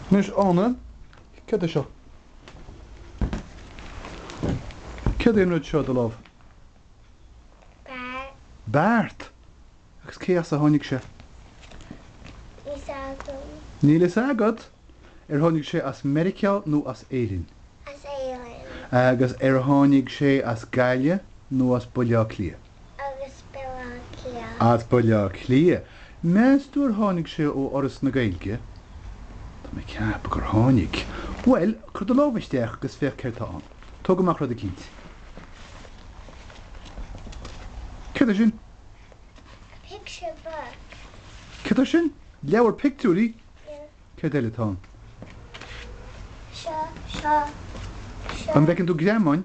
Anois Ána, céard é seo? Céard é an rud seo i do lámh? Beart. Beart! Agus cé as a tháinig sé? Níl fhios agam. Níl fhios agat? Ar tháinig sé as Meiriceá nó as Éirinn? As Éirinn. Agus ar tháinig sé as Gaillimh nó as Baile Átha Cliath? As Baile Átha Cliath. As Baile Átha Cliath, meas tú ar tháinig sé ó Fhoras na Gaeilge? Tá mé ag ceapadh gur tháinig. Bhuel, cuir do lámh isteach agus féach céard tá ann. Tóg amach rud eicínt. Céard é sin? Picture book. Céard é sin? Leabhar pictiúirí? Yeah. Céard eile atá ann? Seo, seo, seo. An bhfeiceann tú greamáin?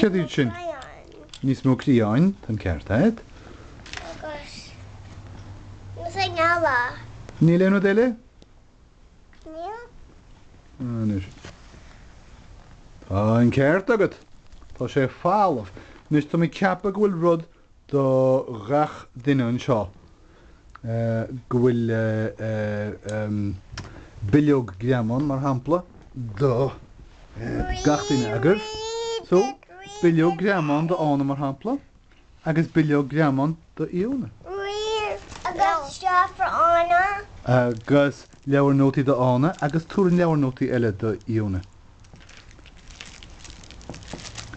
Céard iad sin? Níos mó criáin, tá'n ceart agat. Agus níl aon eile. Níl aon rud eile? Níl. Anois. Tá'n ceart agat. Tá sé falamh. Anois, tá mé ag ceapadh go bhfuil rud do ghach duine anseo go bhfuil bileog greamán, mar shampla, do gach duine agaibh. So, bileog greamán do Ána, mar shampla, agus bileog greamán do Fhiona. Agus seo for Ána. Agus leabhar nótaí do Ána agus tabhair an leabhar nótaí eile do Fhiona.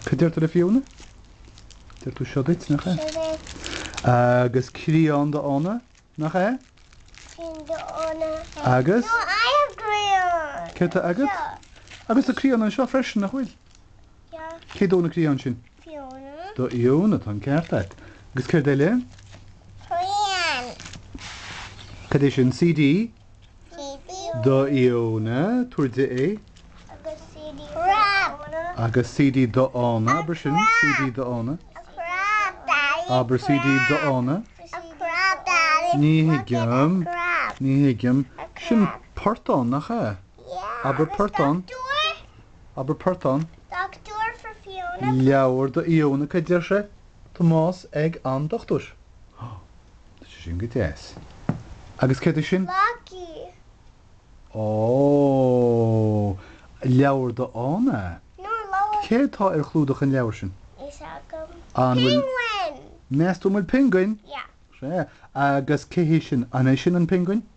Céard a deir tú le Fiona? Deir tú seo duit, nach ea? Seo duit. Agus criáin do Ána, nach ea? Criáin do Ána. Agus? No, I have crián. Céard tá agat? Seo. Agus tá criáin anseo freisin, nach bhfuil? Yeah. Cé dó na criáin sin? Fiona. Do Fhiona, tá an ceart agat. Agus céard eile? Crián. Céard é sin? CD? do Fhiona tabhair di é. agus CD do Ána. agus CD do Ána abair sin CD do Ána. abair CD do Ána. ní thuigim ní thuigim sin portán nach ea? abair portán abair portán. leabhar do Fhiona cad deir sé? Tomás ag an dochtúir. Ó, tá sé sin go deas. Agus céard é sin? Maggie. Ó, leabhar do Ána. No, leabhar. Céard tá ar chlúdach an leabhair sin? Níl fhios agam. An bhfuil. Penguin! Meas tú an bhfuil piongain? Yeah. Sea. Agus cé hé sin? An é sin an piongain?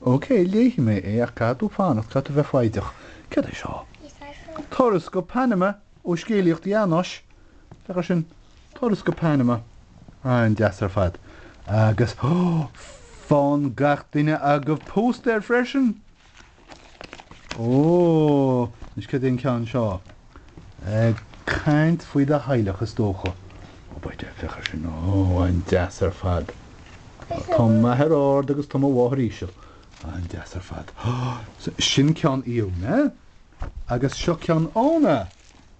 OK, léifidh mé é ach caithfidh tú fanacht, caithfidh tú bheith foighdeach. Céard é seo? Turas go Panama ó Scéalaíocht Janosch, féach ar sin, Turas go Panama. An-deas ar fad. Agus, oh! faigheann gach duine agaibh póstaer freisin! Ó! Anois céard é an ceann seo? Ag caint faoi do theaghlach is dócha. Ó beidh sé féach air sin. Ó an-deas ar fad. Tá m'athair ard agus tá mo mháthair íseal. An-deas ar fad. Sin ceann Ióna agus seo ceann Anna.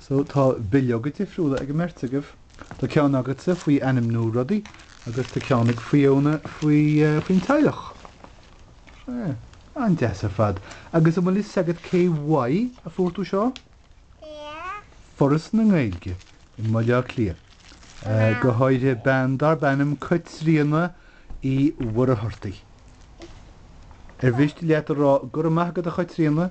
So tá bileoga difriúla ag an mbeirt agaibh. Tá ceann agatsa faoi ainmniú rudaí agus tá ceann ag Ióna faoi faoin teaghlach. Sea. An-deas ar fad. Agus an bhfuil a fhios agat cé uaidh a fuair tú seo? Foras na Gaeilge i mBaile Átha Cliath. Go háirithe bean darb ainm Caitríona Uí Mhuircheartaigh. Ar mhiste leat a rá go raibh maith agat a Chaitríona?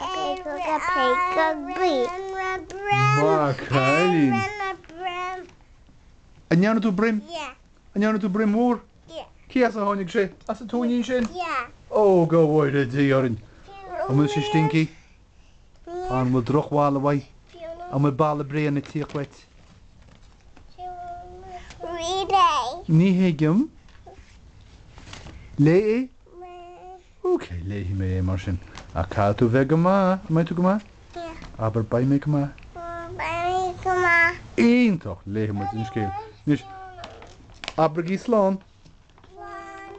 Maith an cailín. An ndearna tú broim? An ndearna tú broim mhór? Cé as a tháinig sé? As an tóinín sin? Ó, go bhfóire Dia orainn! An bhfuil sé stinky? An bhfuil drochbholadh uaidh? An bhfuil boladh bréan ag tíocht uait? Ní thuigim. Léigh é? OK, léifidh mé é mar sin. Ach caithfidh tú bheith go maith, an mbeidh tú go maith? Yeah. Abair beidh mé go maith. Abair beidh mé go maith. Iontach! Léifidh muid an scéal. Anois, abraigí slán. Slán.